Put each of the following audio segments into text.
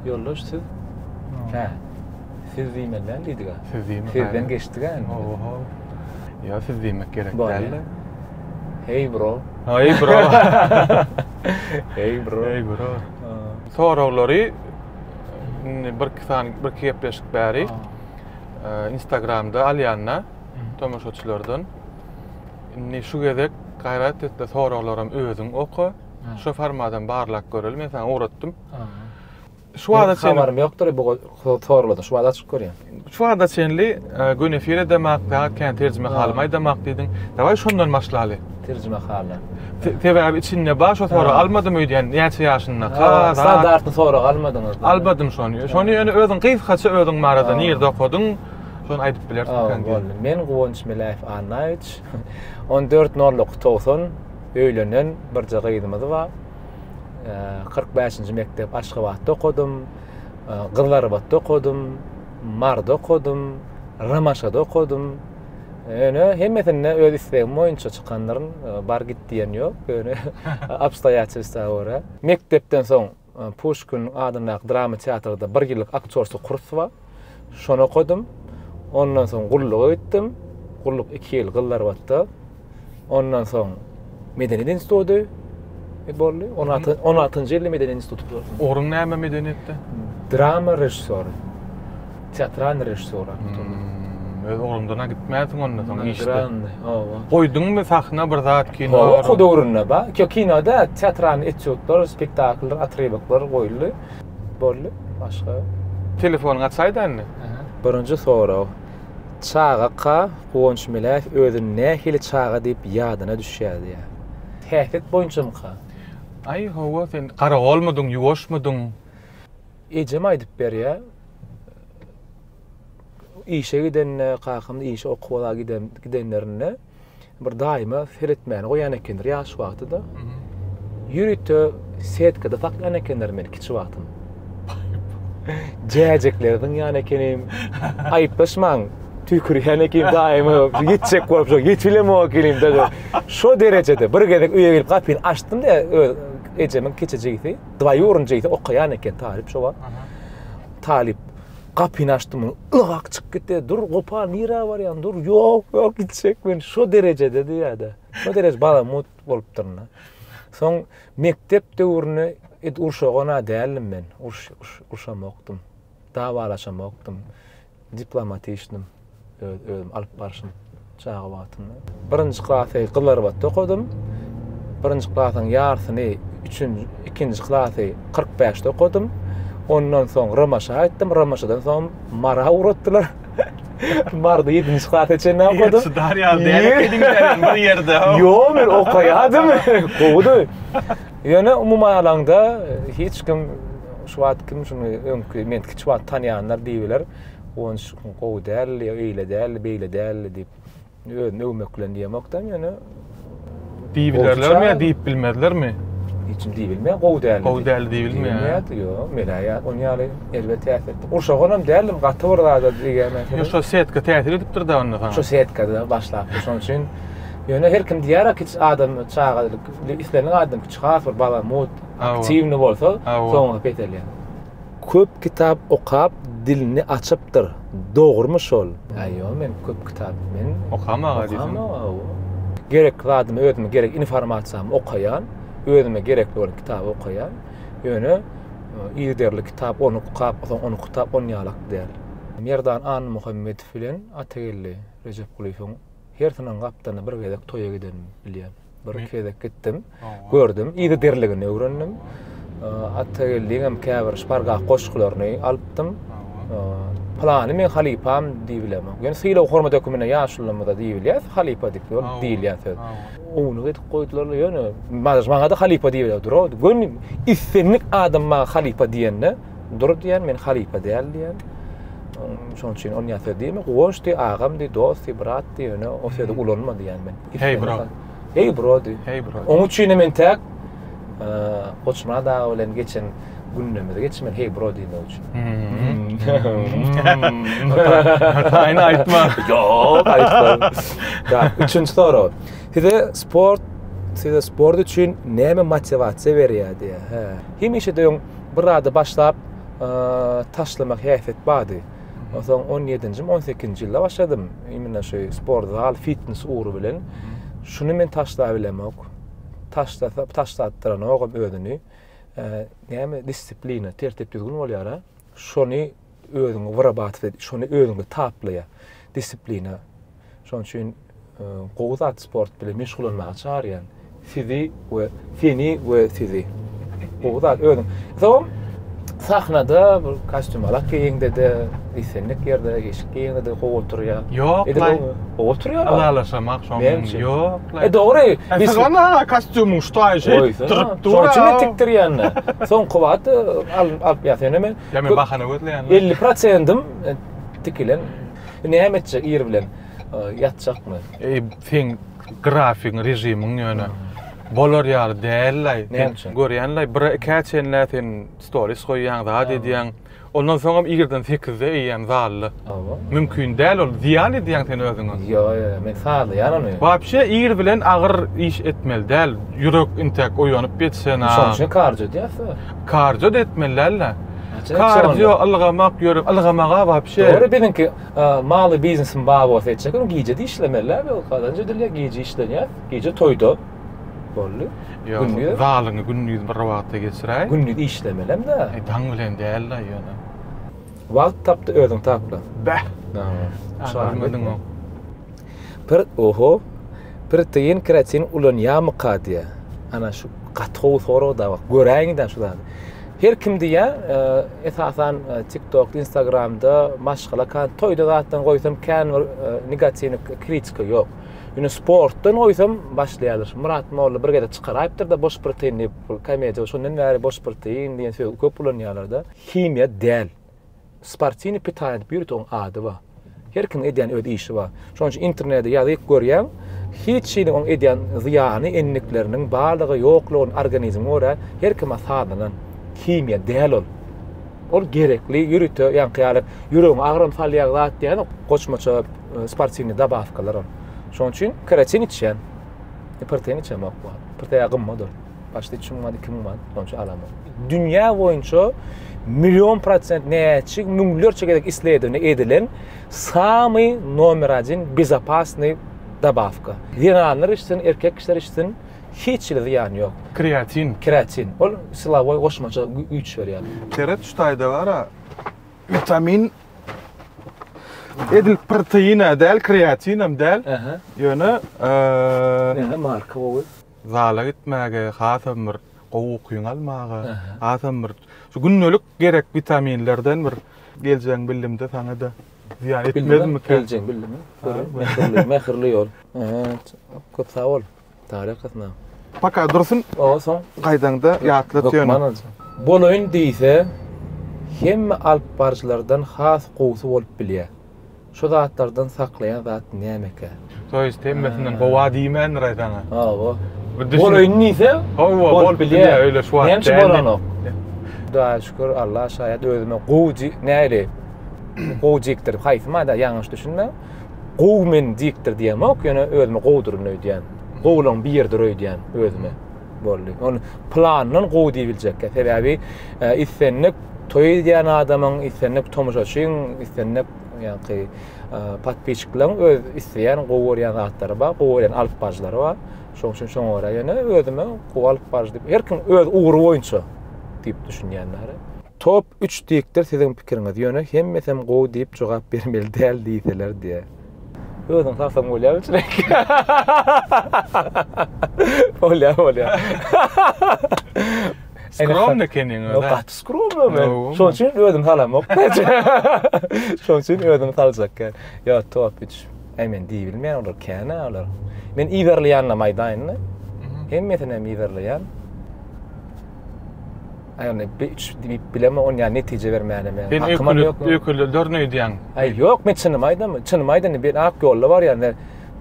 Ýoldaş siz Hä. Siz diýmeliň diýdiga. Siz diýmek. Sizden geçdiga indi. Oho. Ýa siz diýmek gerek däldi. Hey bro. Hey bro. Hey bro. Hey bro. Soraglary indi bir iki sany bir iki gepleşik bäri. Instagramda alýanda tomaşaçylardan indi şu gezek gaýrat etde soraglaram özüň oka. Şu formadan barlak göreli men sana ugratdym. Şu wada çenli habarym ýokdur bu sorulady. Şu wada açyp görýän. Şu wada çenli e, gün efir edemak, fakat kän terjime halymy aýdamak diýdiň. Daway şondan başlaly. Terjime haly. Sebäbi içinde bar şu sorag almadym öýdýän näçe ýaşynda. Kaza. Standartny sorag almadyňyz. Almadym şony. Şony ýöne özüň gysgaça özüň barada nirde okadyň? Şony aýdyp bilersiň. Men Guwanç Meläýew Annaýewiç. 14 noluk 90 öýlenen birje gyzymyz bar. 45-nji mekdep Aşgabatda okadym, Gyzlarbatda okadym, Marda okadym, Ramaşada okadym. Öne hemmesinde öz islegim boýunça çykandyryn, bar git diýen ýok. Öne obstoýaçelstwa görä. Mekdepden soň Puşkiniň adyndaky drama teatrda bir ýyllyk aktýorsky kurs bar. Şony okadym. Ondan soň gulluga gitdim. Gulluk iki ýyl Gyzlarbatda. Ondan soň Medeniýet instituty boldy. On alty, on altynjy ýylda Medeniýet instituty gutaryp. Ugruň näme medeniýetde? Drama režissýory. Teatral režissýor aktor. Öz ugrundan-a gitmänsiň onda soň işde. Estrany, hawa. Goýduňmy sahna bir zat kino? Hawa, okuw döwründe bar. Ýok, kino däl, teatral etýudlar, spektakllar, otrywoklar goýuldy. Boldy, başga. Telefonyňy açaýda indi. Birinji sorag. Çagaka Guwanç Meläýew özüni nähili çaga diýip ýadyna düşýärdiýä? Häsiýet boýunçamyka? Aý, hawa, sen garagolmudyň, ýuwaşmydyň? Ejem aýdyp berýä. Işe gidende, kakamyz işe okuwa giden gidenlerinde bir daýyma seretmäni goýan ekendir ýaş wagtyda. Ýörite setkada saklaýan ekenler meni kiçi wagtym. Jäjekleri zyňýan ekenim. Aýyplaşmaň, tüýkürýän ekenim daýyma. Ýetjek bolup şo ýetilemok ekenim daýy. Şo derejede bir gezek öýe gelip gapyny açdym-da öz ejemiň kiçijigisi. Dwaýurin jeýse okaýan eken talyp şo wagt. Talyp gapyny açdym, ylgak çykyp gitdi. Dur, gopar, nirä barýaň? Dur, ýok, ýok, gitjek men. Şo derejede diýýärdi. Şo dereje balamut bolupdyryn-da. Soň mekdep döwründe it urşagan-a däldim men. Urşamokdym. Dawalaşamokdym. Diplomatişdim öz özüm alyp barşym çaga wagtynda. Birinji klasy Gyzylarbatda okadym. Birinji klasyň ýarsyny üçünji ikinji klasy kyrk bäşde okadym. Ondan soň Ramaşa gaýtdym. Ramaşadan soň Mara ugratdylar. Marda ýedinji klasa çenli okadym. Çydar ýaly däl ekeniň sen bir ýerde. Ýok, men okaýardym. Gowudy. Ýöne umuman alaňda hiç kim şu wagt kim şuny öňki men hiç wagt tanýanlar diýibiler. Gonç gowy däldi, öýle däldi, beýle däldi diýip özüni öwmek bilen diýemokdan ýöne diýibilerlermi ýa diýip bilmezlermi? Hiç kim diýip bilmeýär, gowy däldi. Gowy däldi diýip bilmeýär. Ýok, men aýa ony ýaly elbe täsir etdi. Gurşagan hem däldim, gaty bir zada diýýärmen. Ýa şo setka täsir edipdir-de onda saňa. Şo setka-da başlapdy, şonuň üçin ýöne her kim diýýär-a, hiç adam çagalyk Isleniň adynyň kiçi has bir balamut, aktiwny bolsa, soňy peselýär. Köp kitap okap dilini açypdyr, dogrymy şol? Ýok men köp kitap men okamag diýsene. Gerekli zadymy özüme gerek informasiýamy okaýan, özüme gerekli bolan kitaby okaýan. Ýöne yzderli kitap ony okap soň ony kitap ony ýalak däl. Merdan Annamuhammedow bilen Atageldi Rejepgulyýewiň hersiniň gapdalyna bir gezek toýa gidenim bilýän. Bir gezek gitdim. Gördüm, ýygy diriligini öwrendim. Atageldiňem käbir şpargak goşgularyny alypdym. Plany men halypam diýip bilemok. Ýöne sylag hormat hökmünde ýaşulymyza diýip bilýär, halypa diýip ýol diýilýän söz. Owuny edip goýdular, ýöne maňa-da halypa diýip durardy. Göni islendik adam maňa halypa diýende, Dur diýen, men halypa däl diýen. Şoň üçin ony ýa söz diýme, guwanç diý, agam diý, dost diý, brat diý, ýöne o sözi ulanma diýen men. Hey bro. Hey bro diý. Hey bro. Oň üçin men täk Goçmyrat aga bilen geçen gündemizi geçip men hey bro diýmek üçin. Aýna aýtma. Ýok, aýtma. Ýa, üçünji sorag. Size sport, size sport üçin näme motiwasiýa berýär diýär. Hemişe de Bir zady başlap taşlamak häsiýet bardy. Onsoň on ýedinjimi, on sekizinji ýylda başladym. Imенно şu sport zal, fitnes ugry bilen. Şuny men taşlap bilemok. Taşlasa, taşlatdyranogam özüni. Näme disiplina, tertip-düzgün bolýar-a. Şony özüňi wyrabotw et, şony özüňde taplaýa, disiplina. Şonuň üçin e, gowy zat sport bilen meşgullanmagy çagyrýan. Sizi we seni we sizi. Gowy zat özüň. Soň sahnada bir kostyum alak geýende de, islendik ýerde, eşik geýende de gowy oturýar. Ýok, laý. Gowy oturýar. Alalaşamak şoň. Ýok, laý. E dogry. Biz saňa ha kostyumyň şu taýy şeýdip durup dur. Şoň üçin tikdirýän. Soň kubat alyp ýa seni men Ýa men bahana gözleýänmi? Elli prosentim e, tikilen. Näme etjek ir bilen? E, Ýatjakmy? Eý, seň grafigiň, režimiň ýöne bolar ýaly däl-laý. Näme Sen üçin? görýän-laý, bir ikä çenlä sen stories goýýaň, zat edýäň. Ondan soňam irden sekizde eýýäm zalda. Hawa. Mümkin däl ol. Zyýan edýäň sen özüňe. Ýok ýok men sazlaýan ony. Wapşe ir bilen agyr iş etmeli däl. Ýürek intäk oýanyp geçsen a. Şoň üçin kardio edýäsä. Kardio da etmeli dälä. Kardio ylgamak ýürek ylgamak a wapşe. Dogry biziňki maly biznesiň bar bolsa etjek ol gije de işlemeli däl ýok kazanç edilýä gije işlenýär gije toýda boldy. Ýok zalyňy gündiz bir wagtda geçiräý. Gündiz işlemelem dä. Daň bilen däl da ýöne. Wagt tapdy özüň tapla. Bäh. Şaýyň. Pir oho. Protein kreatin ulanýamyka diýä. Ana şu gaty gowy sorag da bak. Göräýiň de şu zady. Her kim diýä, e, esasan e, TikTok, Instagramda maşgala kan toýda zatdan goýsam kän bir e, negatiwny kritika ýok. Ýöne sportdan goýsam başlaýarlar. Murat Molla bir gezek çykaraýypdyr da boş protein diýip, komediýa şondan bäri boş protein diýen söz köp ulanýarlar da. Himiýa däl. Sportiwny pitaniýa diýip ýöriteoň ady bar. Her kimiň edýän öz işi bar. Şonuň üçin internede ýazyp görýäň, hiç hili oň edýän zyýany, endikleriniň barlygy, ýoklugyny organizme görä her kime sazlanan himiýa däl ol. Ol gerekli ýörite ýaňky ýaly ýüregiňe agram salýag zat dälok, goçmaça sportiwny dabawkalar ol. Şonuň üçin keratin içýän. Iperten içemok. Iperten ýagy gymmat ol. Başda 3 müň manat, 2 müň manat onça alamok. Dünýä boýunça million prosent näçe müňlerçe gezek isledini edilen samy nomer 1 bezopasny dabawka. Zenanlar içsin, erkek kişiler içsin, hiç hili zyýany ýok. Kreatin. Kreatin. Ol silawoý goşmaça güýç berýär. Seret şu taýda bara witamin edil proteine däl, kreatin hem däl. Ýöne eee. Näme marka gowy? Zala gitmäge, hasam bir gowy ukyňy almaga, hasam bir şu gündelik gerek witaminlerden bir geljegin bildim-de saňa-da zyýan etmezmika? Geljegin bildim. Mähirli, mähirli ýol. Köp sag bol. Taryk hakynda. Paka dursun. Oba soň gaýdaňda ýatlat ýöne. Hökman aljak. Bolaýyn diýse, hemme alyp baryjylardan has gowusy bolup bilýär. Şu zatlardan saklaýan zat nämekä? To ýest hemmesinden howa diýmändir aý saňa. Hawa. Bolaýyn diýse, hawa bolup bilýär. Öýle şu wagt näçe bolanok. Hudaýa şükür, Alla şaýat özüme gowy näli gowy jikdir. Haýsy maýda ýalňyş düşünmäň. Gowy men jikdir diýemok, ýöne özüme gowduryn öýdýän. Gowulaň biridir öýdýän özüme. boldy. Ol plandan gowy diýiljekkä. Sebäbi e, islendik toý edýän adamyň, islendik tomaşaçyň, islendik ýa-da e, podpisçiklaryň öz isleýän gowy görýän zatlary bar, gowy görýän alyp baryjylary bar. Şoň üçin şoňa görä ýöne özüme gowy alyp baryjy diýip, her kim öz ugry boýunça diýip düşünýänler. Top Üç dikdir siziň pikiriňiz ýöne hemmesem gowy diýip jogap bermeli däl diýseler diýä. Özüň salsaň bolýa biçirek. Bolýa bolýa. Skromny keniň özi. Gaty skromny men. Şoň üçin özüm salamok. Şoň üçin özüm saljak gel. Ýa top 3. Äý men diýip bilmeýän olar känä olar. Men yzarlaýanam aýdaýyn. Hemmesini hem yzarlaýan. Aýony bir üç diýip bilemok, ony ýa netije bermäne men. Sen öküle dörn öýdýäň. Aý ýok, men çynymy aýdam. Çynymy aýdanda bir ak ýolda barýan.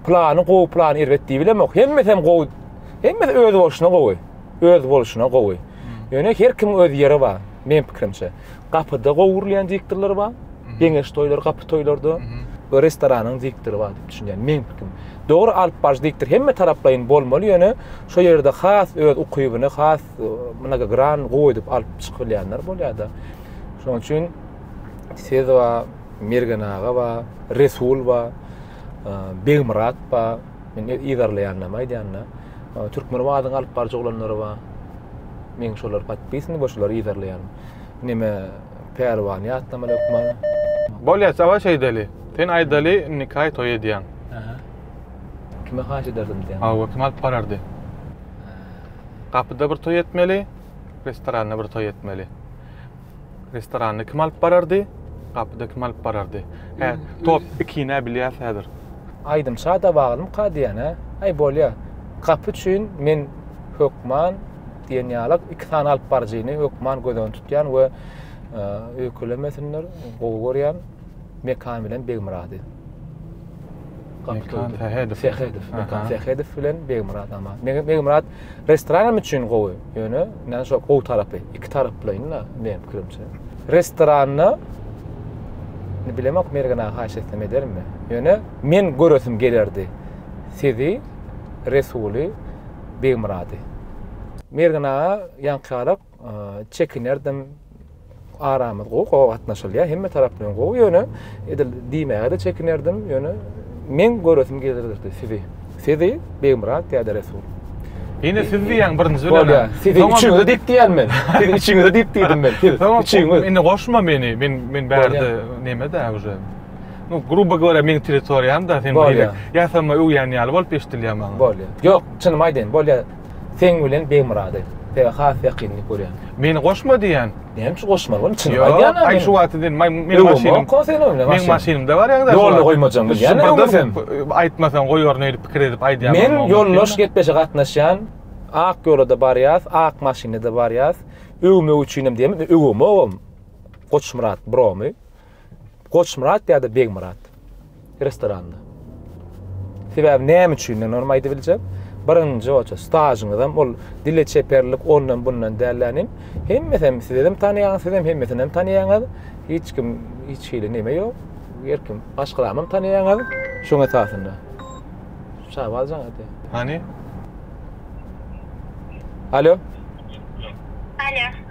Plany gowy, plany erbet diýip bilemok. Hemmesi hem gowy. Hemmesi öz bolşuna gowy. Öz bolşuna gowy. Ýöne her kim öz ýeri bar, men pikirimçe. Gapyda gowy gurulýan diktorlar bar. Geňeş toýlar, gapy toýlarda. Bu restoranyň diktory bar diýip düşünýän. Men pikirim. Dogry alyp baryjy diktor hemme taraplaýyn bolmaly, ýöne şo ýerde has öz ukybyny, has mnogogran gowy edip alyp çykyp bilýänler bolýar-da. Şonuň üçin siz we Mergen aga we Resul we e, Begmyrat we men ýerleýändimi aýdýanda, e, türkmen wadyň alyp baryjy oglanlary we men şolar podpisni we şolary ýerleýän. Nime Pärwan ýatlama hökman. Bolýar, saba şeýdeli. Sen aýdaly, indi kaý toý edýän. Kime haýyş ederdim diýen. Hawa, kim alyp barardy? Gapyda bir toý etmeli, restoranda bir toý etmeli. Restoranda kim alyp barardy, gapyda kim alyp barardy. Hä, top ikine bilýäs häzir. Aýdym şada baglymka diýýän, hä? Aý, bolýa. Gapy üçin men hökman diýen ýaly iki sany alyp baryjyny hökman göz öňünde tutýan we öýkelemesinler, gowy görýän. Mekan bilen Begmyrady. Mekan Sähedow. Sähedow. Mekan Sähedow bilen Begmyrat ama. Begmyrat restoran üçin gowy. Ýöne näme şo gowy tarapy. Iki taraplaýyn-da men pikrimçe. Restoranda ne bilemok Mergena haýyş etsem edermi? Ýöne men göresim gelerdi. Sizi Resuly Begmyrady. Mergena ýaňky arap Çekinerdim. Aramyz gowy, gowy gatnaşylýar. Hemme tarap bilen gowy. Ýöne edil diýmäge-de çekinerdim. Ýöne meň göresim gelirdi sizi. Sizi, Begmyrat ýa-da Resul. Ýene siz diýýäň birinji bilen. Bolýar. Sizi üçüňize diýip diýýän men. Siz üçüňize diýip diýdim men. Siz üçüňiz. Indi goşma meni. Men men bärde neme-dä uje. Nu, gruba görä meň territoriýam-da sen beýle ýasama öwýän ýaly bolup eşdilýär maňa. Bolýar. Ýok, çynymy aýdaýyn, bolýar. Seň bilen Begmyrady Te has ýakynlyk görýän. Meni goşma diýýän. Näme üçin goşmaly bolan? Çynymy aýdýan. Aý şu wagty diýen maý meni maşynyň. Ko sen öňle maşyn. Meni maşynymda bar ýaňda. Ýolda goýmajaň bilýän öňe sen. Aýtmasaň goýaryn öýdüp pikir edip aýdýan. Men ýoldaş gepleşe gatnaşýan. Ak ýolada barýas, ak maşynda da barýas. Öwmek üçinem diýemizmi? Öwemogam. Goçmyrat bromy. Goçmyrat ýa-da Begmyrat restoranda. Sebäbi näme üçin men ony aýdyp biljek? Birinji oça stažyňyzam ol dile çeperlik ondan bundan dällänim. Hemmesem sizem tanýaňyz, sizem hemmesinem tanýaňyz. Hiç kim hiç hili neme ýok. Her kim aşkramam tanýaňyz. Şoň esasynda. Şaba aljaň hadi. Hany? Alo. Alo.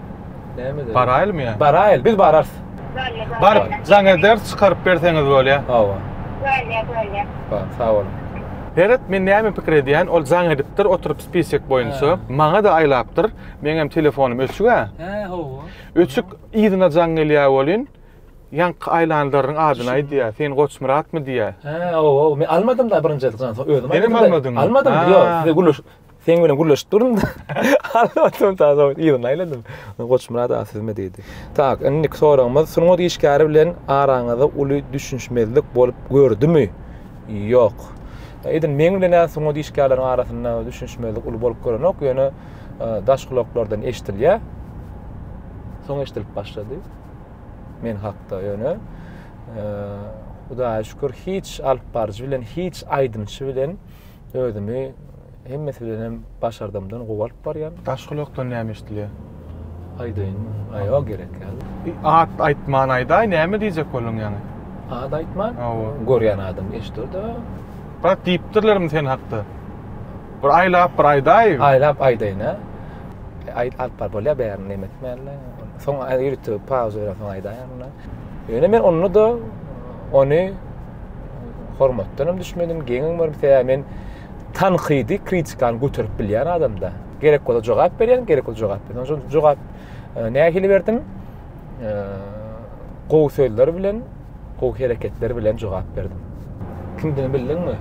Näme dedi? Baraýylmy ýa? Baraýyl, biz bararys. Baryp jaň ederis, çykaryp berseňiz bolýa. Hawa. Bolýa, bolýa. Bar, sag boluň. Heret, men näme pikir edýän, ol jaň edipdir, oturyp spisek boýunça. Maňa-da aýlapdyr. Meňem telefonym öçük-ä. Hä, hawa. Öçük, yzyna jaň gelýä welin, ýaňky aýlanlaryň adyny aýdýa. Sen Goçmyratmy diýýä. Hä, hawa, men almadym-da birinji ýazgany, soň özüm aýdym-da. Senem almadyňmy? Almadym, ýok, size gürleşip. Seň bilen gürleşip durun-da. Alny oturdym ta soň yzyny aýladym. Goçmyrat aga sizmi diýdi. Tak, indiki soragymyz, sungat işgäri bilen araňyzda uly düşünişmezlik bolup gördümi? Ýok. Edil meň bilen-ä sungat işgärleriň arasynda düşünişmezlik uly bolup görenok, ýöne daş gulaklardan eşidilýär. Soň eşidilip başlady. Men hakda ýöne Hudaýa şükür hiç alypbaryjy bilen, hiç aýdymçy bilen özümi Hemmesi bilenem başardymdan gowy alyp barýan. Daş gulakdan näme eşdilýär? Aýdaýyn, aý ýok gerek ýaly. E, at aýtman aýdaý, näme diýjek bolduň ýaňy? At aýtman? Hawa. Görýän adam eşider-de. Brat diýipdirlermi sen hakda? Bir aýlap bir aýdaý. Aýlap aýdaýyn-a. E, aýt alyp bar bolýar bärini näme etmänle. Soň aý ýörite pauza berip soň aýdaýan mundan. Ýöne men onda-da ony hormatdanam düşmedim, geňem görmedim. Sebäbi men tankydy kritikany göterip bilýän adamda. Gerek bolsa jogap berýän, gerek bolsa jogap berýän. Şol jogap e, nähili berdim? E, gowy sözler bilen, gowy hereketler bilen jogap berdim. Kimdigini bildiňmi?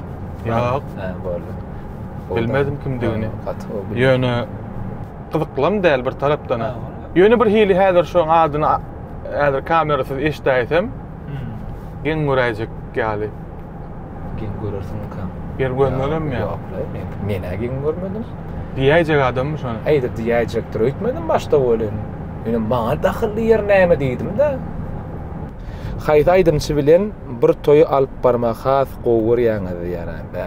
Ýok. Ha, boldy. Bilmedim kimdigini. Ýöne gyzyklam däl bir tarapdan. Ýöne bir hili häzir şu adyny häzir kamerasyz eşdäýsem, Geň göräýjek ýaly. Geň görersiň ikam. Ýer görmelem ýa. Men-ä geň görmedim. Diýäýjek adammy şony? Aýdyp diýäýjekdir. Öýtmedim başda welin. Ýöne maňa dahylly ýer näme diýdim-de. Haýsy aýdymçy bilen bir toýy alyp barmagy has gowy görýäňiz diýýär-ä. Bä.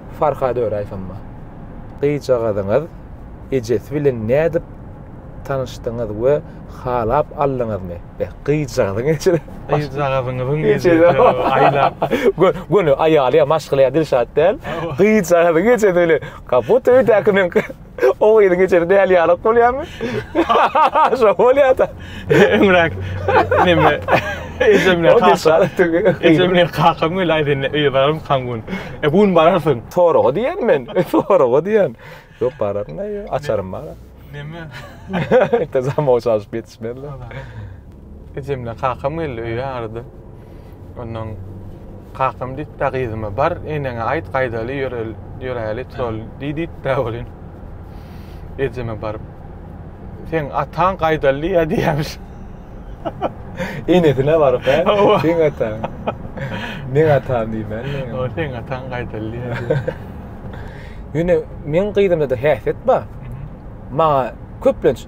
Farhad öraý samma. Gyzjagazyňyz ejesi bilen nädip tanyşdyňyz we halap aldyňyzmy? Beh, gyzjagazyň ejesi. Gyzjagazyňyzyň ejesi aýlap. Göni aýaly ýa maşgala ýa Dilşat däl. Gyzjagazyň ejesi bilen. Kaput öýdäki men. O gyzyň geçeni däli ýalak bolýarmy? Şo bolýar-da. Öňräk neme ejem bilen kakam. Ejem bilen kakam geldi aýdy indi öýe bararmykaň bu gün? E bu gün bararsyň. Soraga diýýän men. Soraga diýýän. Ýok bararyn aýy açarym bar. Neme? Ýöne zamowa çalyşyp ýetişmezler. Ejem bilen kakam geldi öýe arada. Ondan kakam diýip da gyzyma bar eneňe aýt gaýdaly ýöräli trol diý diýip da bolin. Ejeme baryp sen ataň gaýdaly diýýär diýýämiş. Enesine baryp he. Sen ataň. Men ataň diýmän. O sen ataň gaýdaly diýýär. Ýöne men gyzymda da häsiýet bar. Maňa köplenç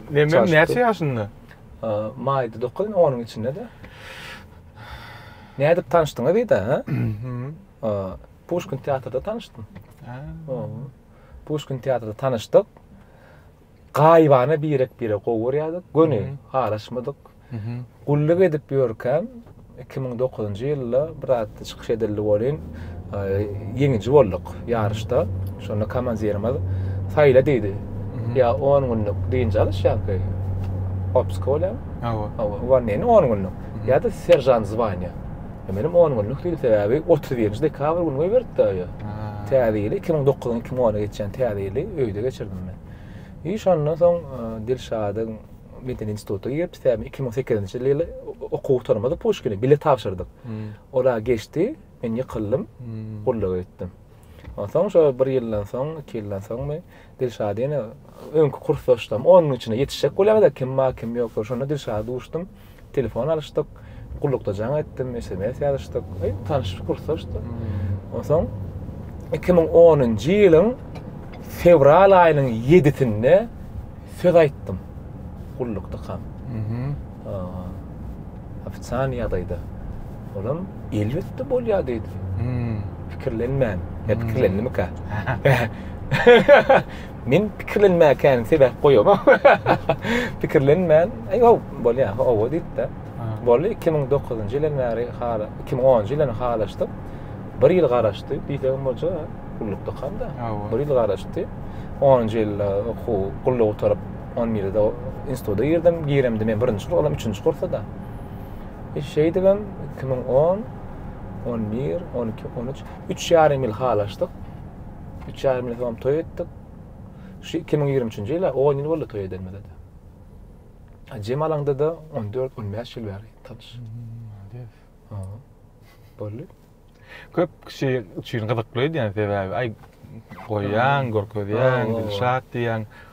Meme näçe ýaşynda? Maýda dokuz, indi onuň içinde-de. Nädip tanyşdyňyz diýdi, hä? Puşkin teatrda tanyşdym. Puşkin teatrda tanyşdyk. Gaýybana birek-biregi gowy görýärdik. Göni araşmadyk. Gulluk edip ýörkäm, iki müň dokuzynjy ýylda bir zatda çykyş edildi welin, ýeňiji bolduk ýaryşda. Şonda komandirimiz saýla diýdi. Ýa on günlük dynç alyş ýa-ki otpuska bolýamy? Hawa. Hawa, uwolneniň on günlük. Ýa-da seržant zwania. Menem on günlük diýdim, sebäbi otuz birinji dekabr güni goýberipdi-ä ýa. Täze ýyly, iki müň dokuzyň iki müň ona geçýän täze ýyly öýde geçirdim men. I şondan soň Dilşadyň medeni instituta girip sebäbi iki müň sekizinji ýyly okuw gutarmady puşkini bile tabşyrdyk ora geçdi men ýykyldym gulluk etdim onsoň şo bir ýyldan soň iki ýyldan soňmy dilşad ýene öňki kursdaşlarym on gün içinde ýetişjek bolýarda kim bar kim ýok şonda dilşada duşdum Telefon alyşdyk, gullukda jaň etdim, sms ýazyşdyk. Eý, tanyşyp gursaşdyk. Onsoň 2010-njy ýylyň fewral aýynyň 7-sinde söz aýtdym. Gullukdykam. Ofitsial ýagdaýda. Olam elbetde bolýar diýdi. Pikirlenmän. Ýa pikirlendimikä? Men pikirlenmäkäni sebäp goýamok. Pikirlenmän, aý ow, bolýar, ow diýip-de. Boldy, 2009-njy ýyldan bäri hala, 2010-njy ýyldan halaşdyk. Bir ýyl garaşdy, diýsegem boljak, gullukdykam-da. Bir ýyl garaşdy. Onunjy ýylda okuw, gulluk gutaryp, on birde instituta girdim. Giremde men birinji kurs, olam üçünji kursda. E şeýdibem, iki müň on, on bir, on iki, on üç, üç ýarym ýyl halaşdyk. Üç ýarym ýyl soň toý etdik. Şu 2023-nji ýyla 10 ýyl boldy toý edenimize. A Jemal aňda-da 14-15 ýyl bäri tanyş. Hmm, Boldy. Köp kişi üçin gyzykly öýdýän sebäbi, aý goýýaň, görkezýäň, Dilşat diýýäň.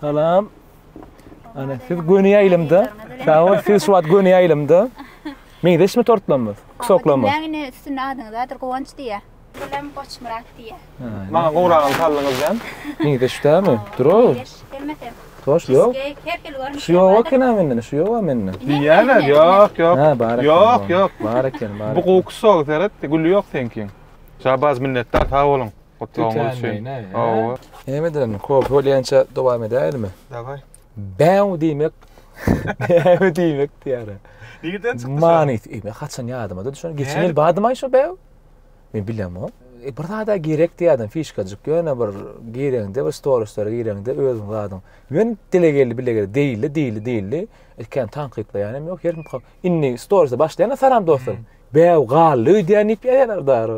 Salam. Ana siz göni ýaýlymda. Sag bol, siz şu wagt göni ýaýlymda. Meňzeşmi tortlarymyz, kusoklarymyz? Näme indi üstünde adyňyz bardyr, Guwanç diýýär. Bilen Goçmyrat diýýär. Maňa gowragyny saldyňyzdan. Meňzeş dälmi? Dura. Meňzeş, hemmesi. Toş ýok. Her hili görnüşi. Şu ýok ekeni menden, şu ýok menden. Diýýärler, ýok, ýok. Ha, bar eken. Ýok, ýok. Bar eken, bar. Bu gowy kusok seret, güli ýok seňkiň. Şabaz minnetdar, sag boluň. Gutlawyňyz üçin. Hawa. Näme ederin? Kofe bolýança dowam edäýelimi? Daway. Bäw diýmek. Bäw diýmek diýýär. Nirden çykdy? Manys. E, men haçan ýadyma da düşen. Geçen ýyl badym aýşo bäw. Men bilem o. E, bir zada gerek diýýärdim, fişkajyk. Ýöne bir gireňde, bir storislere gireňde özüň zadyň. Ýöne dile geldi, bile geldi. Diýildi, diýildi, diýildi. Ilk kän tankytlaýan hem ýok. Her kim Indi storysa başlaýana salam dostlar. Bäw galdy öýdýän diýip ýazýarlar dary.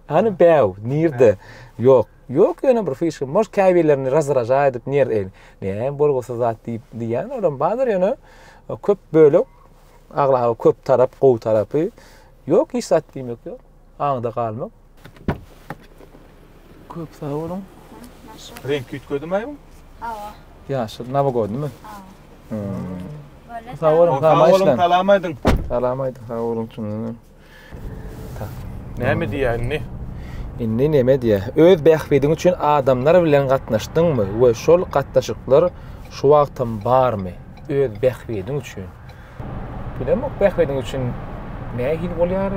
Hany bäw nirde? Ýok. Ýok ýöne bir fişka. Moş käbirlerini razraja edip nir el. Näme bolgusyz zat diýip diýýän olam bardyr ýöne köp bölek aglaba köp tarap gowy tarapy ýok hiç zat diýmek ýok. Aňda galmak. Köp sag boluň. Renk üýtgedimi aýbym? Hawa. Ýaşyl nabagodymy? Hawa. Sag boluň, sag boluň, salam aýdyň. Salam aýdyň, sag boluň çynyňdan. Näme diýýär indi? Indi näme diýýär? Öz bähbidiň üçin adamlar bilen gatnaşdyňmy we şol gatnaşyklar şu wagtam barmy? Öz bähbidiň üçin. Bilemok bähbediň üçin nähili bolýar?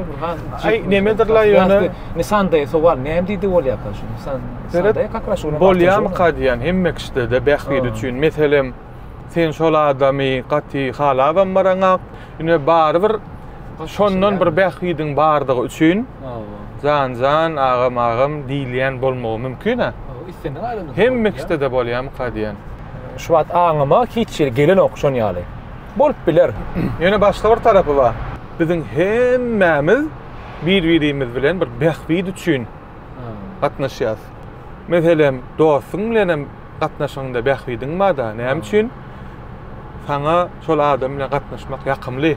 Aý, nemedirler ýöne. Nisanda sowal, näme diýdi bolýarka şu Nisan? Nisanda ýa-da Kraş bolýar. Bolýarmyka diýýän hemme kişide-de bähbit üçin. Meselem, sen şol adamy gaty halabam baraňak, ýöne barybir şondan bir bähbidiň bardygy üçin jan-jan, agam-agam diýilýän bolmagy mümkin-ä. Islendik adamda. Hemme kişide-de bolýarmyka diýýän. Şu wagt aňyma hiç ýeri gelenok şon ýaly. Bolup biler. Ýöne başga bir tarapy bar. Biziň hemmämiz bir-birimiz bilen bir bähbit üçin gatnaşýarys. Meselem, dostuň bilenem gatnaşygyňda bähbidiň bar-da, näme üçin saňa şol adam bilen gatnaşmak ýakymly?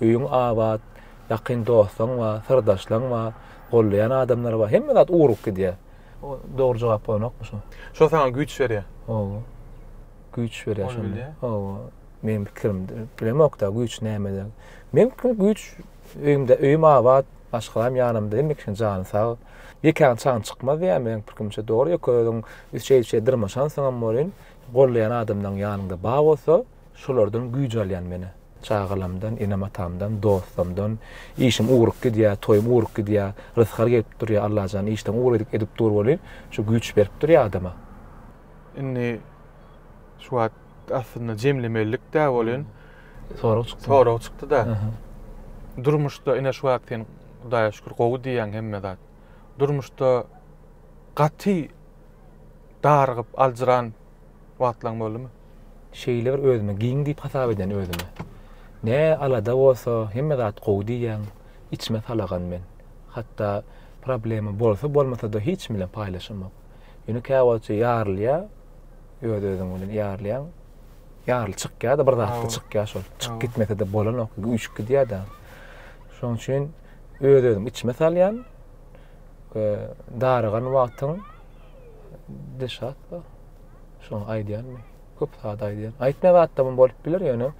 Öýüň abat, ýakyn dostuň bar, syrdaşlaň bar, gollaýan adamlar bar, hemme zat ugruk gidýär. Dogry jogap bolanokmy şu? Şo saňa güýç berýär. Hawa. Güýç berýär şo. Ol bilýär. Hawa. Meniň pikirim, bilemok-da güýç nämede. Meniň pikirim güýç öýümde, öýüm abat, maşgalam ýanymda, hemme kişiň jany sag. Ýekäň çagyň çykmaz diýýär meniň pikrimçe. Dogry ýeke özüň şeýdip şeýdip dyrmaşansyňam welin, gollaýan adamlaryň ýanyňda bar bolsa, Şolardan güýç alýan menä. Çagalamdan, enem-atamdan, dostumdan. Işim ugrup gidýär, toýum ugrup gidýär. Rysgal gelip durýar, Allajan, işden ugur edip edip dur welin, şu güýç berip durýar adama. Indi şu wagt aslynda jemlemelilik-dä welin, Sorag çykdy. Sorag çykdy-da. Durmuşda ine şu wagt sen Hudaýa şükür gowy diýýäň hemme zat. Durmuşda gaty darygyp, aljyran, Wagtlaň boldumy? Şeýle bir özümi giň diýip hasap eden özüme. Ne alada bolsa hemme zat gowy diýýän içime salagan men. Hatda problema bolsa bolmasada hiç kim bilen paýlaşamok. Ýöne käwagtça ýarylýar öz özüň bilen ýarylýaň. Ýaryl çykýada bir zatda çykýa şol. Çyk gitmesede bolanok üýşüp gidýada. Şoň üçin öz özümi içime salýan we darygan wagtyň Dilşat ba. Şoňa aýdýanmy? Köp zat aýdýan. Aýtma zatda mum bolup biler ýöne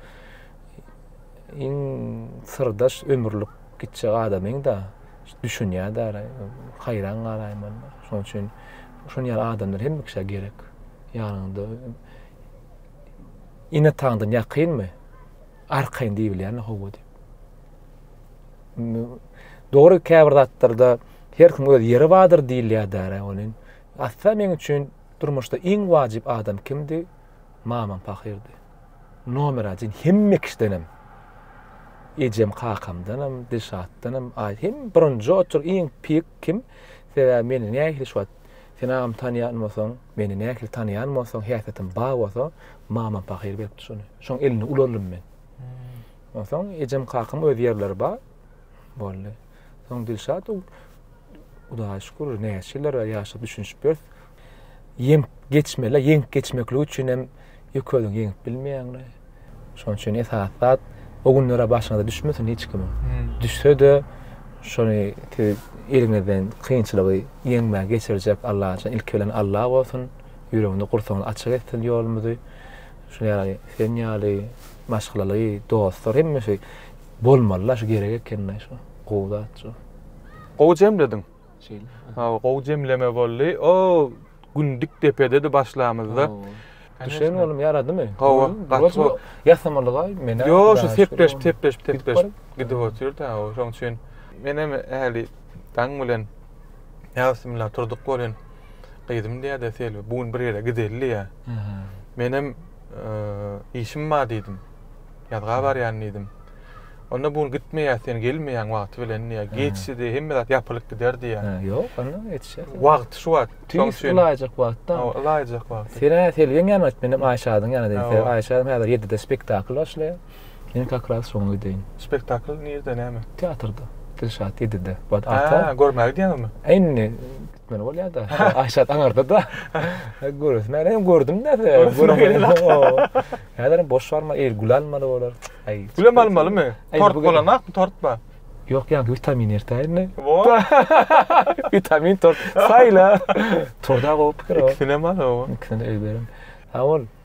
iň syrdaş ömürlik gitjek adamyň da düşünýär da haýran galaýyn men. Şoň üçin şoň ýaly adamlar hem kişä gerek. Ýanyňda ine taňdan ýakynmy? Arkaýyn diýilýär howa diýip. Dogry käbir zatlarda her kim öz ýeri bardyr diýilýär däre welin, Ata meň üçin durmuşda iň wajyp adam kimdi? Mamam pahyrdy. Nomer ajin hemme kişidenem. Ejem kakamdanam, Dilşatdanam, aý hem birinji otur iň pik kim? Sebäbi meni nähili şu wagt sen agam tanýan bolsaň, meni nähili tanýan bolsaň, häsiýetim bar bolsa, mamam pahyr beripdi şony. Şoň elini ulardym men. Onsoň ejem-kakam öz ýerleri bar boldy. Soň Dilşat Hudaýa şükür, näçe ýyllar bäri ýaşap düşünişip ýörüs. Ýeňip geçmeli, ýeňip geçmeklik üçin hem ýeke özüň ýeňip bilmeýäňle. Şonuň üçin esasy zat o günler başyňyza düşmesin hiç kimiň. Düşse-de şony siz eliňizden kynçylygy ýeňmän geçirjek Alla üçin ilki bilen Alla bolsun. Ýüregiňizi gursaňyzy açyk etsin ýolumyzy. Şuny ýaly sen ýaly maşgalaly dostlar hemişe bolmalyda şu gerek ekende şu gowy zat şu. Gowy jemlediň. Şeýle. Hawa gowy jemleme boldy. O gün dik depededi başlamyzda. Düşen oglum ýaradymy? Hawa gaty gowy. Ýasamalygaý menä. Ýo şu sepleşip sepleşip sepleşip gidip otyr da şoň üçin. Menem ähli daň bilen. Ýa bismillah turdyk welin. Gyzym diýýär-de Selbi, bu gün bir ýere gideli diýýär. Menem Işim bar diýdim. Ýazga barýan diýdim. Onda bu gün gitmeýäs, sen gelmeýäň wagty bilen diýýär. Geçdi, hemme zat ýapylyp gider diýýär. Hä, ýok, onda ýetişer. Wagty şu wagt. Şonuň üçin. Ylaýjak wagtda. Hawa, ylaýjak wagty. Sen-ä Selbiň ýanyna git, menem Aýşadyň ýanyna diýdim. Sebäbi Aýşa häzir ýedide spektakl başlaýar. Men kakras şoňa gideyim. Spektakl nirde näme? Teatrda. Dilşat ýedide. Bad ata. Hä, görmäge gidýäňizmi? Indi gitmeli bolýa-da. Aýşat aňarda-da. Göresim bar. Ýa gördüm-de. Häzirem boş barma, eýýir gül almaly bolar. Aý. Gülem almalymy? Tort bolanakmy, tort bar. Ýok, ýaňky witamin ertäýin-de. Wo. Witamin tort. Saýla. Torda gowy pikir-ow. Ikisinem al-ow. Ikisini öýberiň. Aý, ol.